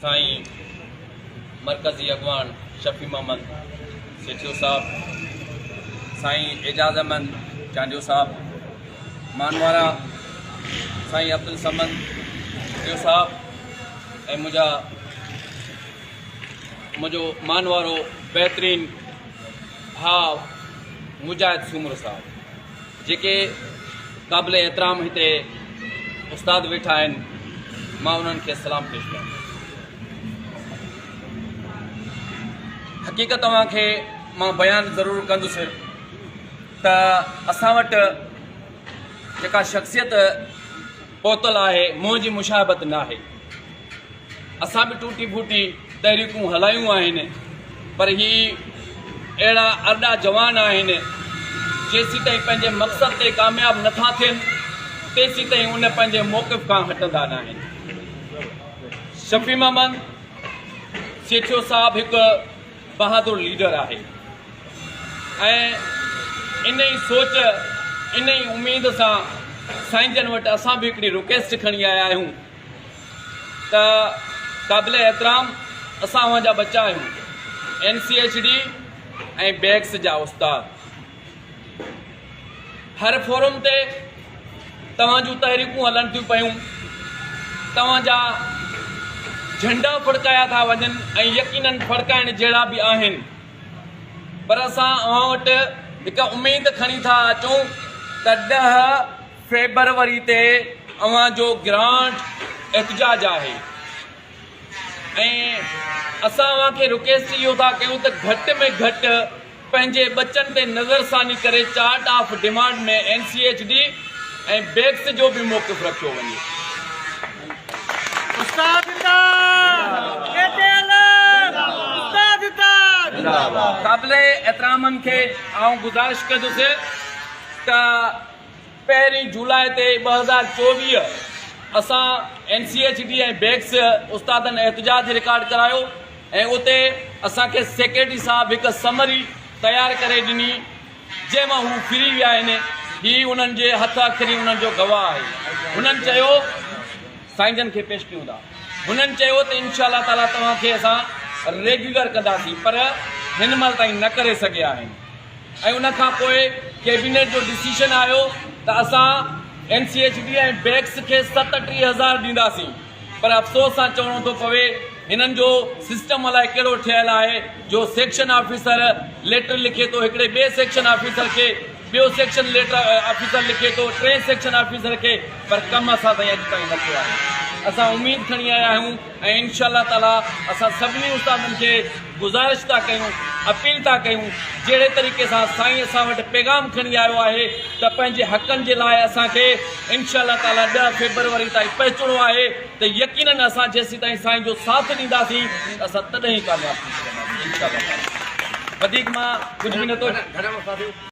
سائين مرڪزي اڳواڻ شفيع محمد سيٺيو صاحب، سائين اعجاز احمد چانڊيو صاحب، مانوارا سائين عبدالصمد ڏيو صاحب ۽ منهنجا منهنجو مانوارو بهترين ڀاء مجاهد سومرو صاحب. جيڪي قابل احترام هتي استاد ويٺا آهن مان انهن کي سلام پيش ڪيان ٿو. حقيقت اوهان کي مان بيان ضرور ڪندس ته اسان وٽ جيڪا شخصيت پهتل آهي منهن جي مشاهبت ناهي. اسان به ٽوٽي ڦوٽي تحريڪون هلايون آهن پر هي اهڙا ارڏا جوان آهن جيسيتائين پنهنجي مقصد تي ڪامياب نٿا ٿين تيسيتائين ان پنهنجي موقف کان هٽندا نه آهن شفيع محمد سيٺيو صاحب هڪ بهادر ليڊر آهي ۽ ان ئي سوچ ان ئي اميد سان سائين جن وٽ اسان به هڪڙي رڪويسٽ کڻي آيا آهيون ته قابل احترام اسان اوهان جا ٻچا آهيون N C H D ۽ BECS جا استاد هر فورم تي توهان جون تحريڪون هلن ٿيون پيون توهان جا جھنڊا ڦڙڪايا ٿا وڃن ۽ يقينن ڦڙڪائڻ جهڙا به آهن پر اسان اوهان وٽ هڪ اميد کڻي ٿا اچون ته ڏهه فيبروري تي اوهان جو گرانٽ احتجاج آهي ۽ اسان اوهان کي رڪيسٽ اهو ٿا ڪيون ته گهٽ ۾ گهٽ پنهنجي ٻچن تي نظر ثاني ڪري chart of demand ۾ N C H D ۽ BECS جو به موقف رکيو وڃي. قابل احترامن کي آئون گذارش ڪندس ته پهرين جولاء تي ٻه هزار چوويهه اسان N C H D ۽ BECS استادن احتجاج رڪارڊ ڪرايو ۽ اتي اسان کي سيڪريٽري صاحب هڪ سمري تيار ڪري ڏني جنهن مان هو ڦري ويا آهن هي انهن جي هٿ اکري انهن جو گواهه آهي هنن چيو سائين جن کي پيش ڪيون ٿا هنن چيو ته انشاء الله تعالي توهان کي اسان ريگيولر ڪنداسين پر هن مهل تائين نه ڪري سگهيا آهن ۽ ان کان پوء ڪيبينيٽ جو ڊسيشن آيو ته اسان N C H D ۽ BECS کي ست ٽيهه هزار ڏينداسين پر افسوس سان چوڻو ٿو پوي هنن جو سسٽم الائي ڪهڙو ٺهيل آهي جو سيڪشن آفيسر ليٽر لکي ٿو هڪڙي ٻئي سيڪشن آفيسر کي ٻيو سيڪشن ليٽر آفيسر لکي ٿو ٽئين سيڪشن آفيسر کي پر ڪم اسان تائين اڄ تائين نه ٿيو آهي اسان اميد کڻي آيا آهيون ۽ انشاء الله تعالي اسان سڀني استادن کي گذارش ٿا ڪيون اپيل ٿا ڪيون جهڙي طريقي سان سائين اسان وٽ پيغام کڻي آيو آهي ته پنهنجي حقن جي لاء اسان کي انشاء الله تعالي ڏهه فيبروري تائين پهچڻو آهي ته يقينن اسان جيسيتائين سائين جو ساٿ ڏينداسين ته اسان تڏهن ئي ڪامياب ٿي سگهنداسين انشاء الله تعالي وڌيڪ مان ڪجهه به نه ٿو